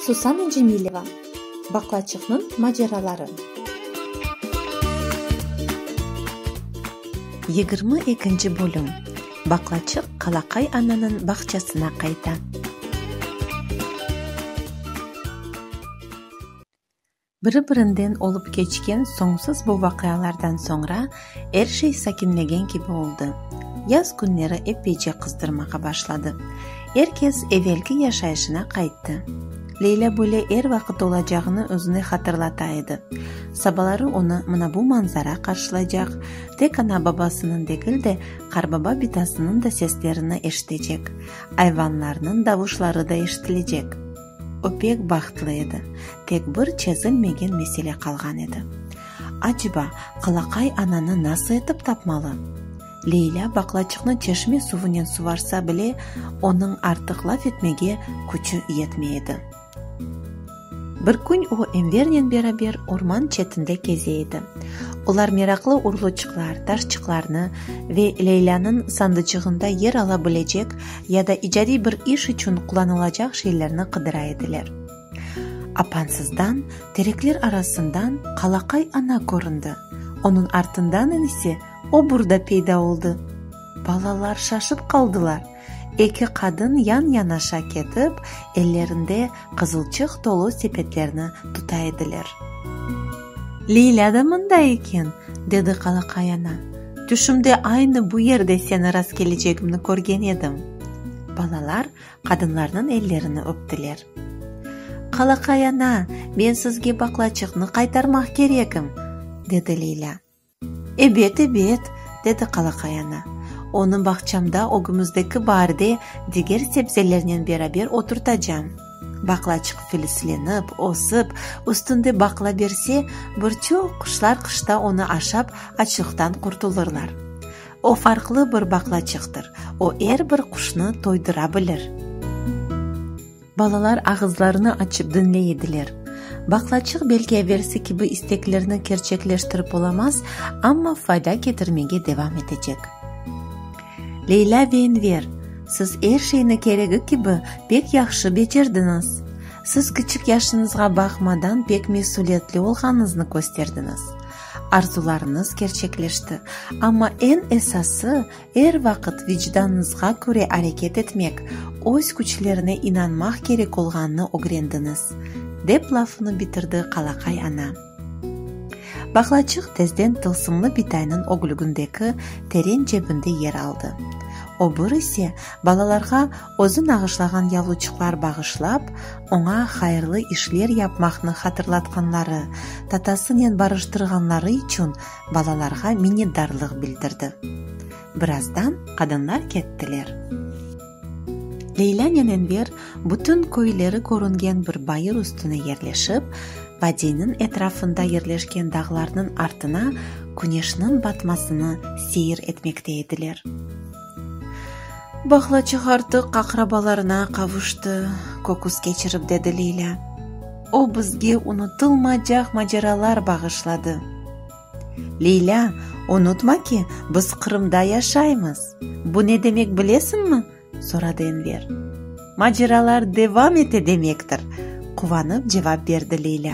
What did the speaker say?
Susana Cemileva, Baqlaçıqnıñ maceraları. Yigirmi ekinci bölüm, Baqlaçıq Qalaqay ananıñ bağçasına qayta. Biri-birinden olıp keçken soñsuz bu vaqialardan soñra er şey sakinlegen kibi oldı. Yaz künleri epeyce qızdırmağa başladı. Er kes evelki yaşayışına qayttı. Leyla böyle er vaqıt olacağını özüne hatırlata edi. Sabaları onı mına bu manzara qarşılaycaq, tek ana babasınıñ degil de, qarbaba bitasınıñ da seslerini eşitecek, ayvanlarnıñ davuşları da eşitilecek. O pek bahtlı edi. Tek bir çezilmegen mesele qalğan edi. Aceba, Qalaqay ananı nasıl etip tapmalı? Leylâ baqlaçıqnı çeşme suvunen suvarsa bile, onıñ artıq laf etmege küçü yetmey edi. Bir kün o Envernen beraber orman çetinde keze edi. Olar meraqlı urluçıqlar, taşçıqlarnı ve Leylânıñ sandıcığında yer ala bilecek ya da icadiy bir iş içün qulanılacaq şeylerni qıdıra ediler. Apansızdan, terekler arasından Qalaqay ana köründi, onıñ artından inisi o burda peyda oldı. Balalar şaşıp qaldılar. Eki qadın yan-yanaşa ketip, ellerinde qızılçıq tolu sepetlerni tuta ediler. Leylâ da mında eken, dedi Qalaqay ana. Tüşümde aynı bu yerde seni rastkelecegimni körgen edim. Balalar qadınlarnıñ ellerini öptiler. Qalaqay ana, men sizge baqlaçıqnı qaytarmaq kerekim, dedi Leylâ. Ebet, ebet, dedi qalaqay ana. Onı bağçamda ögümüzdeki baarde diger sebzelernen beraber oturtacam. Baqlaçıq filislenip, ösip, üstünde baqla berse, bir çoq quşlar qışta onı aşap açlıqtan qurtulırlar. O farqlı bir baqlaçıqtır, o er bir quşnı toydıra bilir. Balalar ağızlarını açıp diñley ediler. Baqlaçıq belki evelsi kibi isteklerni kerçekleştirip olamaz, amma fayda ketirmege devam etecek. Leylâ ve Enver, siz er şeyni keregi kibi pek yahşı becerdiñiz. Siz kiçik yaşıñızğa baqmadan pek mesülietli olğanıñıznı kösterdiñiz. Arzularıñız kerçekleşti, amma eñ esası, Er vaqıt vicdanıñızğa köre areket etmek, öz küçlerine inanmaq kerek olğanını ögrendiñiz, dep lafını bitirdi qalaqay ana. Bağlaçıq tezden tılsımlı bitaynıñ ögülgündeki teren cebinde yer aldı. Öbür ise, balalarğa özü nağışlağan yavluçıqlar bağışlap, oña hayırlı işler yapmaqnı hatırlatqanları, tatasınen barıştırğanları içün balalarğa minnetdarlıq bildirdi. Birazdan qadınlar kettiler. Leylânen Enver bütün köyleri körüngen bir bayır üstüne yerleşip, vadiyniñ etrafında yerleşken dağlarnıñ artına küneşniñ batmasını seyir etmekte ediler. Bağlaçıq artıq aqrabalarına qavuştı, köküs keçirip, dedi Leylâ. O bizge unutılmacaq maceralar bağışladı. Leylâ, unutma ki, biz Qırımda yaşaymız. Bu ne demek bilesiñmi? soradı Enver. Maceralar devam ete demektir, quvanıp cevap berdi Leylâ.